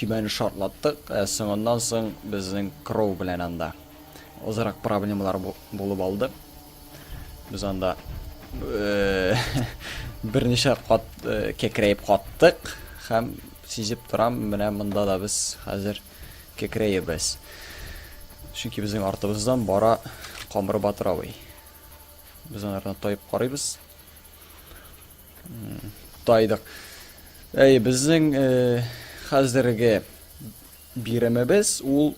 Төбәне шартлаттык, ә соңыннан соң безнең Кроу белән анда азрак проблемалар булып алды. Без анда э, берничә кат э, кекрәеп каттык һәм сизеп торам, менә монда да без хәзер кекрәебез. Чөнки безнең артыбыздан бара Камыр Батыравый. Без аны тайып карыйбыз. Тайдык. Әй, безнең э, хәзерге биремебез ул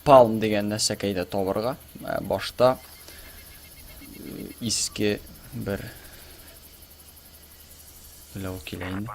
палм дигән нәрсәкәйдә табырга. Ә, э, башта э, иске бер Ләү килә инде.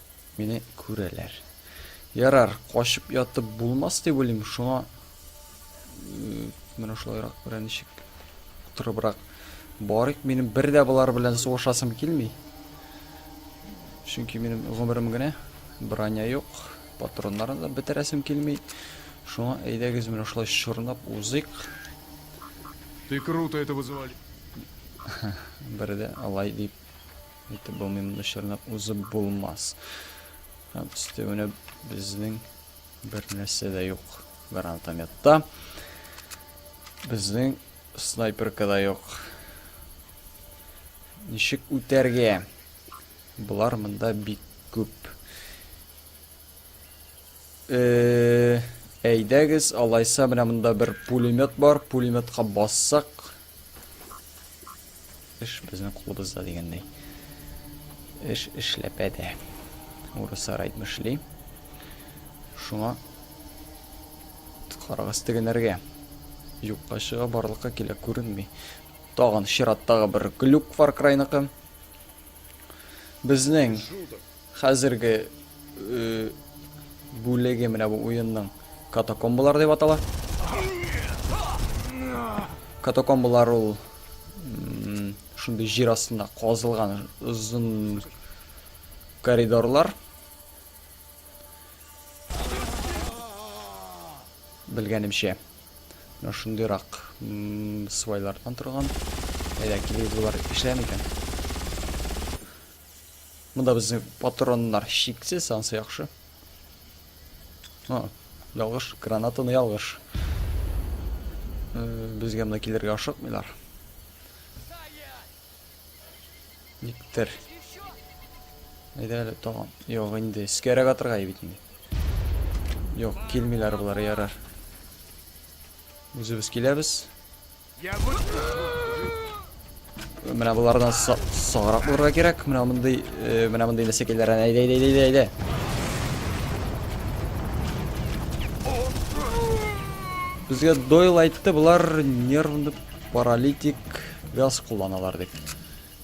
Мине күрәләр. Ярар, качып ятып булмас дип уйлыйм, шуңа менә шулайрак берәр ничек утырыбрак барыйк. Минем бер дә болар белән сугышасым килми. Чөнки минем гомерем генә броня юк, патроннарны да бетерәсем килми. Шуңа әйдәгез менә шулай чорнап узыйк. Ты круто это вызывали. Бер дә алай дип Итеп булмыйм дошырны узып булмас. Һәм өстәвенә безнең бер нәрсә дә юк гранатометта. Безнең снайперка да юк. Ничек үтәргә? Болар монда бик күп. Э, әйдәгез, алайса менә монда бер пулемет бар. Пулеметка бассак, Эш безнең кулыбызда дигәндәй. Эш эшләпә дә. Урыслар әйтмешли. Шуңа карагыз тегенәргә. Юкка чыга барлыкка килә күренми. Тагын чираттагы бер глюк Far Cry-ныкы. Безнең Хәзерге бүлеге менә бу уенның катакомбалар дип атала. Катакомбалар ул шундый җир астында казылган озын коридорлар. Белгәнемчә, менә шундыйрак свайлардан торган. Әйдә, килегез булар эшләми икән. Монда безнең патроннар шиксез, ансы яхшы. А, ялгыш, гранатаны ялгыш. Безгә монда килергә ашыкмыйлар. Никтер. Әйдә әле тагын. Юк, инде искәрәк атырга бит инде. Юк, килмиләр болар, ярар. Үзебез киләбез. Менә болардан саграк булырга кирәк. Менә мондый, э, менә мондый нәсекеләрен әйдә, әйдә, әйдә, әйдә. Безгә Дойл айтты, болар нервны паралитик газ кулланалар дип.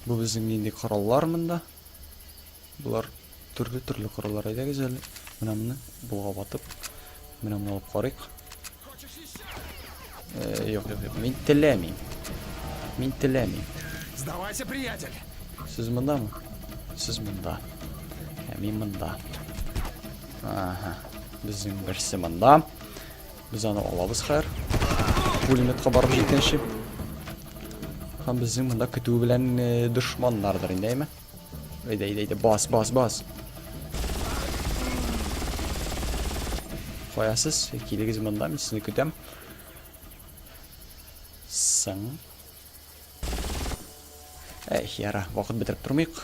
Бу безнең инде кораллар монда. Болар төрле-төрле кораллар. Әйдәгез әле, менә моны булга батып, менә моны алып карыйк. Э, юк, юк, юк. Мин теләмим. Мин теләмим. Сдавайся, приятель. Сез мондамы? Сез монда. Ә мин монда. Ага. Безнең берсе монда. Без аны алабыз хәер. Пулеметка барып җиткәнче. Һәм безнең монда көтү белән э, дошманнардыр инде, әйме? Әйдә, әйдә, әйдә, бас, бас, бас. Каясыз, килегез монда, мин сезне көтәм. Сың. Әй, яра, вакыт бетереп тормыйк.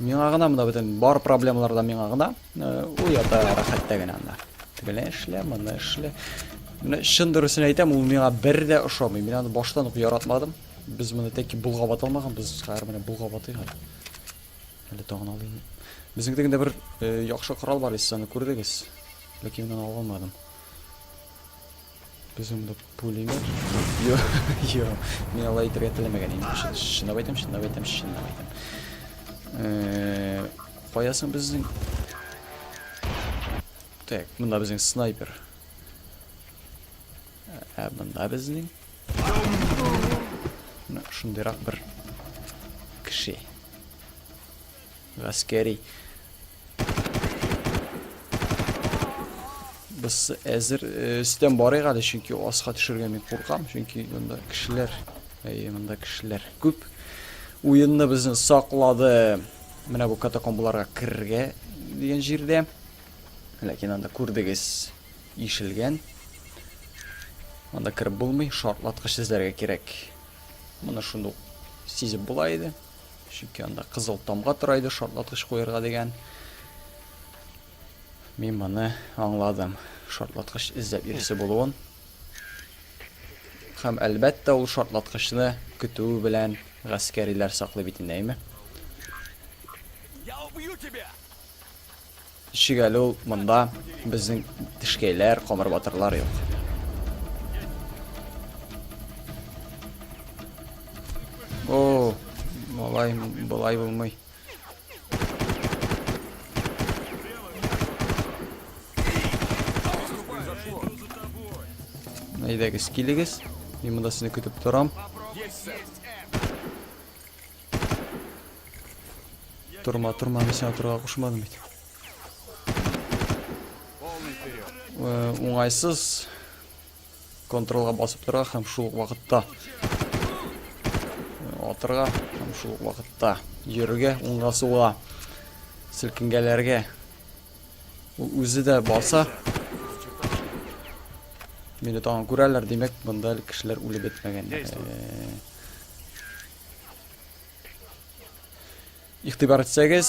Миңа гына монда бөтен бар проблемалар да миңа гына. Уята рәхәттә генә анда. Тегеле эшлә, моны эшлә. Менә чын дөресен әйтәм, ул миңа бер дә ошамый. Мин аны баштан ук яратмадым. Без моны тәки булгап аталмаган, без хәзер менә булгап атыйк әле. Әле тагын алыйм. Безнең дигәндә бер яхшы корал бар, сез аны күрдегез. Ләкин мин аны алмадым. Без анда пулемет. Йо, йо. Мин алай итәргә теләмәгән идем. Чынлап әйтәм, чынлап әйтәм, чынлап әйтәм. Кая соң безнең? Так, монда безнең снайпер. Ә монда безнең? Шундыйрак бер кеше. Гаскәри. Без әзер өстән э, барыйк әле, чөнки аска төшергә мин куркам, чөнки монда кешеләр, әйе, монда кешеләр күп. Уенны безне саклады. Менә бу катакомбаларга керергә дигән җирдә. Ләкин анда күрдегез, ишелгән. Анда кереп булмый, шартлаткыч эзләргә кирәк. Моны шундук сизеп була иде. Чөнки анда кызыл тамга тора иде шартлаткыч куярга дигән. Мин моны аңладым. Шартлаткыч эзләп йөрүсе булуын. Һәм әлбәттә ул шартлаткычны көтү белән гаскәриләр саклый бит инде, әйме? Я убью тебя! Ничек әле ул монда безнең тешкәйләр, камыр батырлар юк. О, малай, былай булмый. Әйдәгез, килегез. Мин монда сезне көтеп торам. Торма, торма, мин сиңа торырга кушмадым бит. Э, уңайсыз контролга басып торырга һәм шул вакытта э, атырга һәм шул вакытта йөрергә, уңга суга селкенгәләргә. Ул үзе дә баса. Мине тагын күрәләр, димәк, монда әле кешеләр үлеп бетмәгән. Игътибар итсәгез,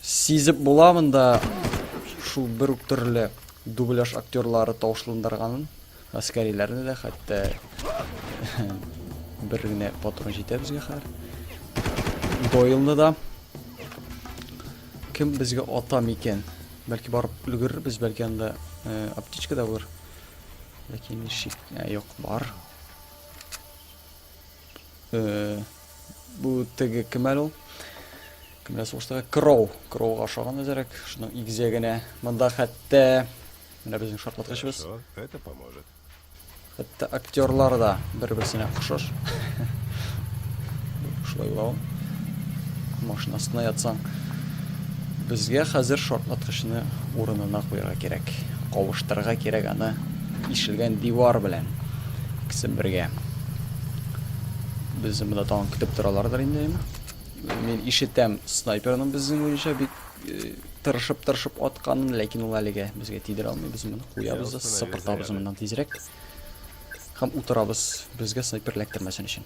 сизеп була монда шул бер үк төрле дубляж актерлары тавышландырганын, әскәриләрне дә хәтта бер генә патрон җитә безгә хәзер. Дойлны да кем безгә ата микән? Бәлки барып өлгерербез, бәлки анда э, аптечка да булыр. Ләкин шик, э, юк, бар. Э, бу теге кем әле ул? Кемдә сугышта? Кроу. Кроу ашаган үзәрәк. Шуның игезәгенә. Монда хәтта менә безнең шартлаткычыбыз. Это поможет. Хәтта актерлар да бер-берсенә охшаш. Шулай була. Машинасына ятсаң, безгә хәзер шартлаткычны урынына куярга кирәк. Кавыштырырга кирәк аны. Тишелгән дивар белән икесе бергә. Безне монда тагын көтеп торалардыр инде. Мин ишетәм снайперның безнең буенча бик э, тырышып-тырышып атканын, ләкин ул әлегә безгә тидерә алмый. Без моны куябыз да сыпыртабыз моннан тизрәк. Һәм утырабыз, безгә снайпер эләктермәсен өчен.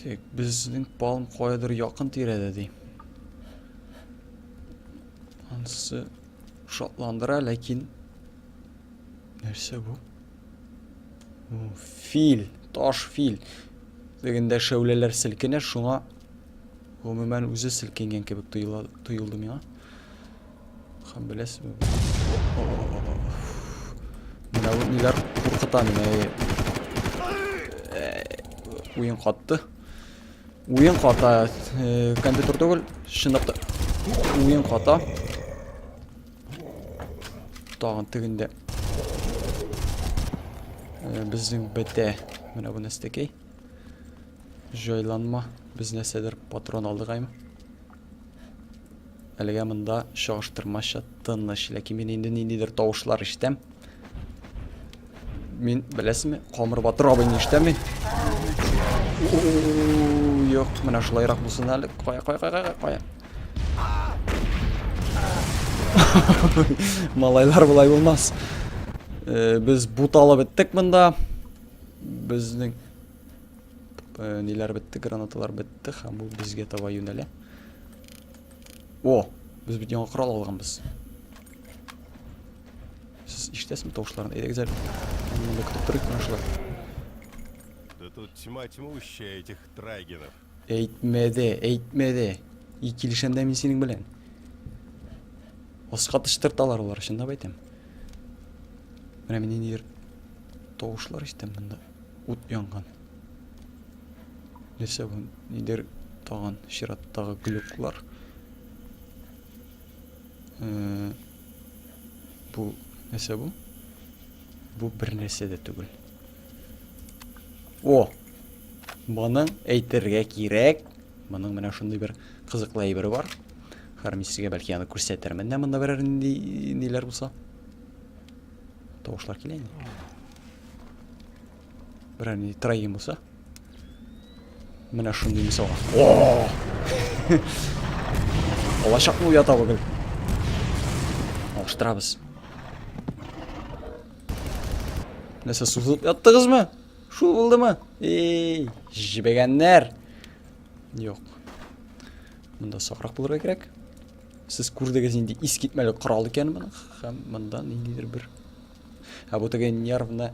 Так, безнең палм каядыр якын тирәдә ди. Ансы шатландыра, ләкин нәрсә бу? Фил, таш фил. Дегендә шәүләләр селкенә, шуңа гомумән үзе селкенгән кебек тоелды миңа. Хан беләсез mi? Менә бу ниләр куркыта мине. Уен катты. Уен ката. Компьютер түгел, шыныкты. Уен ката. Тагын тегендә. Безнең бетә. Менә бу нәрсәкәй. Җайланма. Без нәрсәдер патрон алдыгаймы? Әлегә монда чагыштырмача тыныч, ләкин мин инде ниндидер тавышлар ишетәм. Мин, беләсезме, Камыр Батыр абыйны ишетәм мин. Юк, менә шулайрак булсын әле. Кая, кая, кая, кая. Малайлар болай булмас. Э, без буталып беттек монда. Безнең Э, ниләр бетте, гранаталар бетте һәм ул безгә таба юнәлә. О, без бит яңа корал алганбыз. Сез ишетәсезме тавышларын? Әйдәгез әле. Монда көтеп торыйк, менә шулай. Да тут тьма тьмущая этих трайгенов. Әйтмәде, әйтмәде. И килешәм дә мин синең белән. Аска тыштырталар улар, чынлап әйтәм. Менә мин ниндидер тавышлар ишетәм монда. Ут янган. Нәрсә бу? Ниндидер тагын чираттагы глюклар. Э, бу нәрсә бу? Бу бер нәрсә дә түгел. О! Моны әйтергә кирәк. Моның менә шундый бер кызыклы әйбере бар. Хәрмисигә бәлки аны күрсәтермен дә монда берәр ниләр булса. Тавышлар килә инде. Берәр ни троем булса. Менә шундый мисалга. О! Алачакны уята бүген. Алыштырабыз. Нәрсә, сузылып яттыгызмы? Шул булдымы? Эй, җибегәннәр. Юк. Монда сакрак булырга кирәк. Сез күрдегез инде искитмәле корал икәнен моның. Һәм монда ниндидер бер Ә бу теге нервны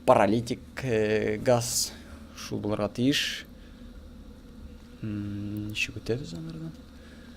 паралитик э, газ шул булырга тиеш. Ничек үтәбез анардан?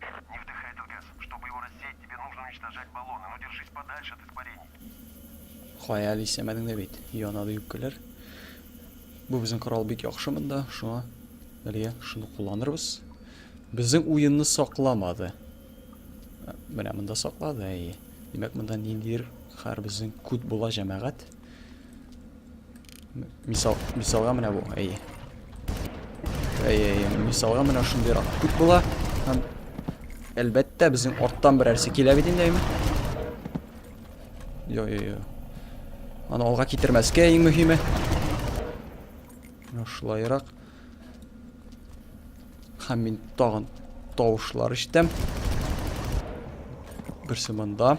Не вдыхай этот газ, чтобы его рассеять тебе нужно уничтожать баллоны, но держись подальше от испарений. Кая әле исәмәдең дә бит, янады юккәләр. Бу безнең корал бик яхшы монда, шуңа әлегә шуны кулланырбыз. Безнең уенны сакламады. Менә монда саклады, әйе. Димәк, монда ниндидер хәр безнең күт була җәмәгать. Мисал, мисалга менә бу, әйе. Әйе, әйе, мисалга менә шундыйрак күп була. Һәм әлбәттә безнең арттан берәрсе килә бит инде. Йо, йо, йо. Аны алга китермәскә иң мөһиме. Шулайрак. Һәм мин тагын тавышлар ишетәм. Берсе монда.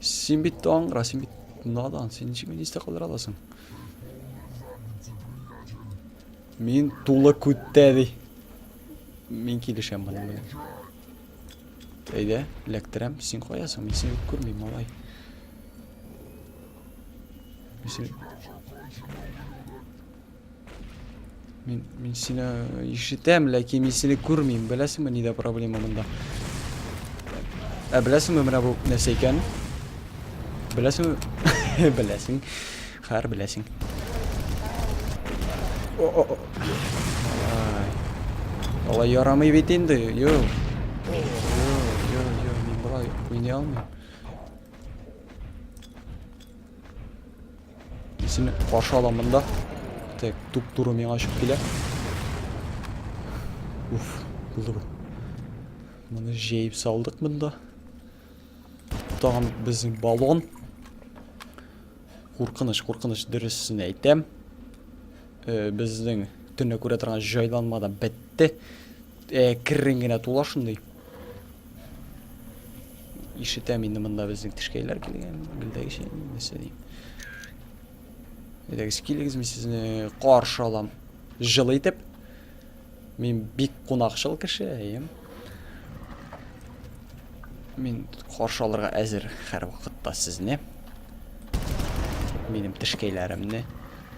Син бит аңгыра, син бит надан, син ничек мине истә калдыра аласың? Мин тулы күттә ди. Мин килешәм моның белән. Әйдә, эләктерәм. Син каясың? Мин сине күрмим, малай. Мин сине... Мин, мин сине ишетәм, ләкин мин сине күрмим. Беләсеңме, нидә проблема монда? Ә беләсеңме, менә бу нәрсә икән? Беләсеңме? Беләсең. Хәр беләсең. О, о, о. Алай ярамый бит инде. Йо. Йо, йо, йо, мин болай уйный алмыйм. Сине каршы алам монда. Так, туп-туры миңа очып килә. Уф, булды бу. Моны җәеп салдык монда. Тагын безнең баллон. Куркыныч, куркыныч дөресен әйтәм. Э, безнең төнлә күрә торган җайланма да бетте. Э, керрен генә тула шундый. Ишетәм инде монда безнең тешкәйләр килгән, гөлдәгечә нәрсә дим. Әйдәгез килегез, мин сезне каршы алам. Җылы итеп. Мин бик кунакчыл кеше, әйем. Мин каршы алырга әзер һәр вакытта сезне. Минем тешкәйләремне.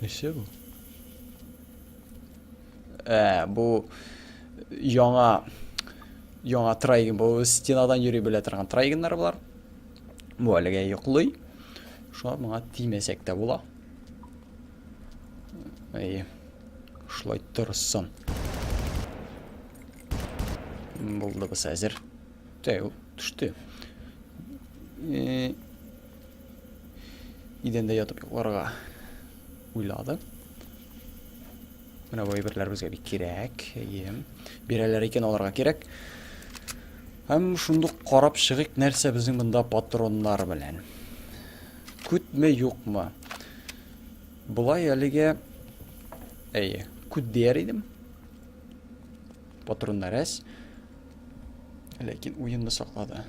И все бу. Ә, бу яңа яңа трайген, бу стенадан йөри белә торган трайгеннар булар. Бу әлегә йоклый. Шуңа моңа тимәсәк тә була. Әйе. Шулай торсын. Булды без әзер. Тәү, төште. Э, Идәндә ятып йокларга уйлады. Менә бу әйберләр безгә бик кирәк. Әйе. Бирәләр икән аларга кирәк. Һәм шундук карап чыгыйк, нәрсә безнең монда патроннар белән. Күтме, юкмы? Болай әлегә әйе, күт дияр идем. Патроннар әз. Ләкин уенны саклады.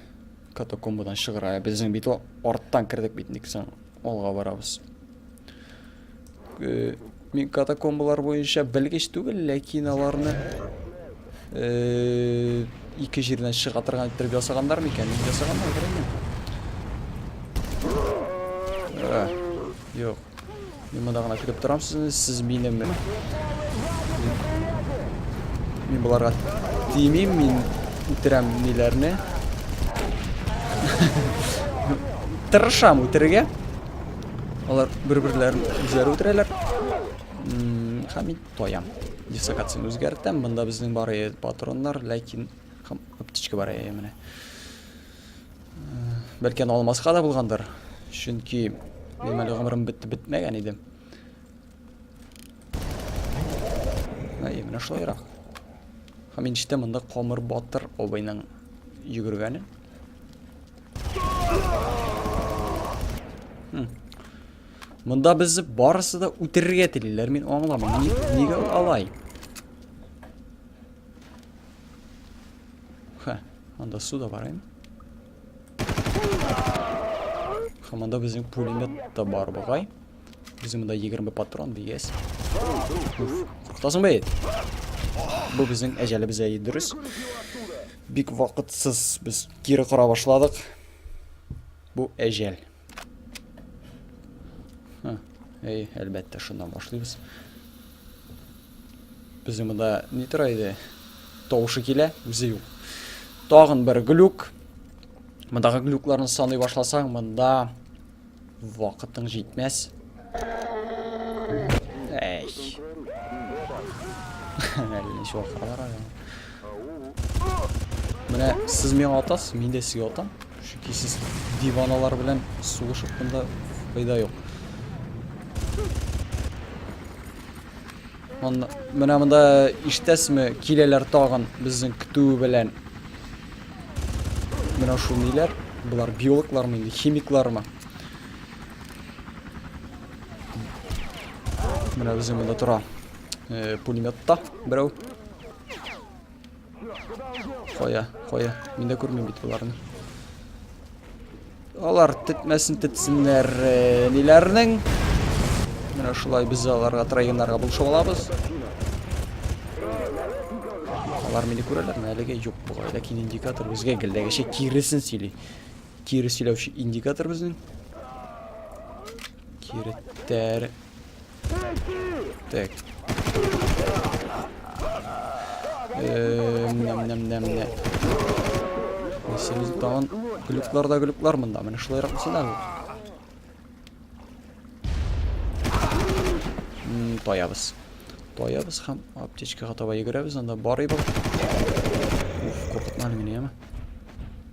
Катакомбадан чыгыра. Безнең бит арттан кердек бит ник соң. Алга барабыз. Э, мин катакомбалар буенча белгеч түгел, ләкин аларны э, ике җирдән чыга торган иттереп ясаганнар микән? Ясаганнар, белмим. Э, юк. Мин монда гына көтеп торам сезне, сез минем. Мин боларга тимим, мин үтерәм ниләрне. Тырышам үтерергә. Алар бер-берләрен үзләре үтерәләр. Һәм мин тоям. Дислокацияне үзгәртәм. Монда безнең бар патроннар, ләкин һәм аптечка бар менә. Бәлки аны алмаска да булгандыр. Чөнки мин әле гомерем бетте бетмәгән иде. Әй, менә шулайрак. Һәм инчте монда Камыр Батыр обайның йөгергәне. Монда без барысы да үтерергә телиләр, мин аңламыйм. Нигә алай? Хә, анда су да бар инде. Хәм анда безнең пулемет та бар бугай. Безнең монда 20 патрон дигәс. Куркытасың бит. Бу безнең әҗәлебез әйе дөрес. Бик вакытсыз без кире кора башладык. Бу әҗәл. Әй, әлбәттә, шуннан башлыйбыз. Безнең монда ни тора иде? Тавышы килә, үзе юк. Тагын бер глюк. Мондагы глюкларны саный башласаң, монда вакытың җитмәс. Эй. Әллә шул калар әле. Менә сез миңа атасыз, мин дә сезгә атам. Чөнки сез диваналар белән сугышып монда файда юк. Монда менә монда иштәсме? Киләләр тагын безнең көтү белән. Менә шул ниләр? Булар биологлармы инде, химиклармы? Менә үзе монда тора. Э, пулеметта берәү. Кая, кая. Мин дә күрмим бит боларны. Алар тетмәсен тетсеннәр э, ниләрнең. Менә шулай без аларга троеннарга булышып алабыз. Алар мине күрәләрме? Әлегә юк бугай, ләкин индикатор безгә гелдәгечә киресен сөйли. Кире сөйләүче индикатор безнең. Кире тәр. Так. Нәм-нәм-нәм-нәм. Сенде тагын глюклар да глюклар монда. Менә шулайрак булса да. Таябыз. Таябыз һәм аптечкага таба йөгерәбез. Анда бар иде. Уф, куркытмады мине, яме.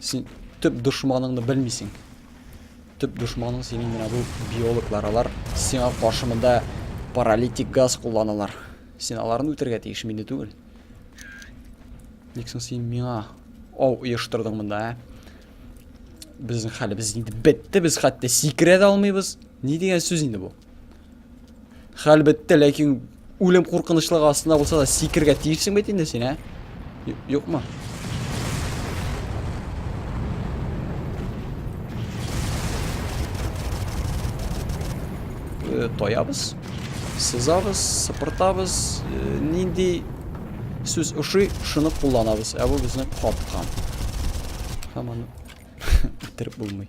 Син төп дошманыңны белмисең. Төп дошманың синең менә бу биологлар. Алар сиңа каршы монда паралитик газ кулланалар. Син аларны үтергә тиеш, мине түгел. Ник соң син миңа ау оештырдың монда, ә? Безнең хәлебез инде бетте, без хәтта сикерә дә алмыйбыз. Ни дигән сүз инде бу? Хәл бетте, ләкин үлем куркынычлыгы астында булса да сикергә тиешсең бит инде син, ә? Юкмы? Э, тоябыз, сызабыз, сыпыртабыз, э, нинди сүз ошый, шуны кулланабыз. Ә бу безне капкан. Һәм аны бетереп булмый.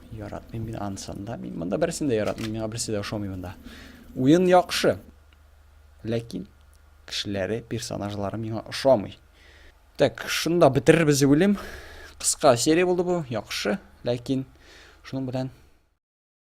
Яратмыйм мин ансын да. Мин монда берсен дә яратмыйм, миңа берсе дә ошамый монда. Уен яхшы. Ләкин кешеләре, персонажлары миңа ошамый. Так, шунда бетерербез үлем. Кыска серия булды бу, яхшы, ләкин шуның белән